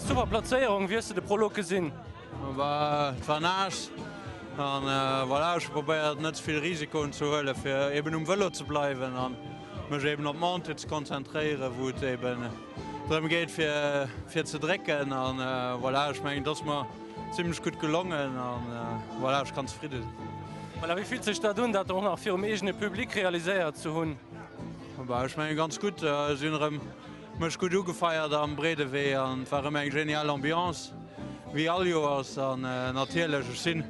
Super Plazéierung, wéi hues de de Prolog gesinn? Et war naass an voilà, ech hu probéiert net ze vill Risikoen ze huelen, fir eben um Vëlo ze bleiwen an mech eben op d'Montée ze konzentréieren, wou et eben drëm geet fir ze drécken an voilà, ech mengen et ass mer zimlech gutt gelongen an voilà, ech kann zefridde sinn. Wéi fillt sech dat un, dat och nach virum eegene Public realiséiert ze hunn? Ech menge ganz gutt. Si hunn erëm mech gutt ugefeiert am Breedewee an et war erëm eng genial Ambiance wéi all Joers. An natierlech, ech sinn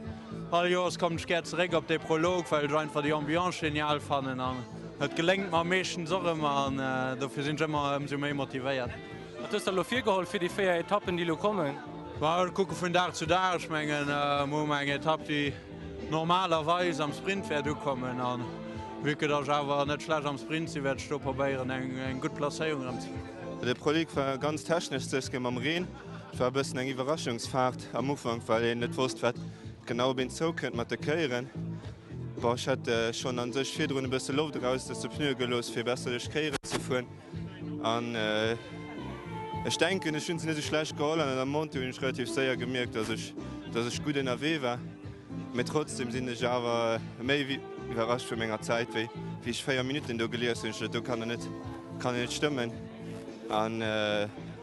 all Joers kommen ech gär zeréck op dee Prolog, well ech einfach déi Ambiance genial fannen an et geléngt mer meeschtens och ëmmer an dofir sinn ech ëmmer ëmsou méi motivéiert. Wat hues de elo virgeholl fir déi véier Etappen, déi elo kommen? Ech kucke vun Dag zu Dag. Ech mengen, mir hu mar eng Etapp, déi. normalerweis am Sprint wäert ukommen a vue que datt ech awer net schlecht am Sprint sinn, wäert ech do probéieren eng gutt Placéierung erëm ze kréien. De Prolog war ganz technesch zeske mam Reen. Et war e bëssen eng Iwwerraschungsfaart am Ufank, well een net wosst, wat genau op een zoukënnt mat de Kéieren. Bon, ech hätt schonn a sech virdrun e bësse Loft eraus aus de Pneue gelooss, fir besserlech Kéieren ze fueren. An ech denken, ech hunn se net esou schlecht geholl. An an der Montée hunn ech relativ séier gemierkt, dass ech, dass ech gutt ënnerwee war. Mee trotzdeem sinn ech awer méi wéi iwwerrascht vu menger Zäit. Wéi ech véier Minutten do gelies hunn, hu ech gesot, do kann et net, kann et net stëmmen. An.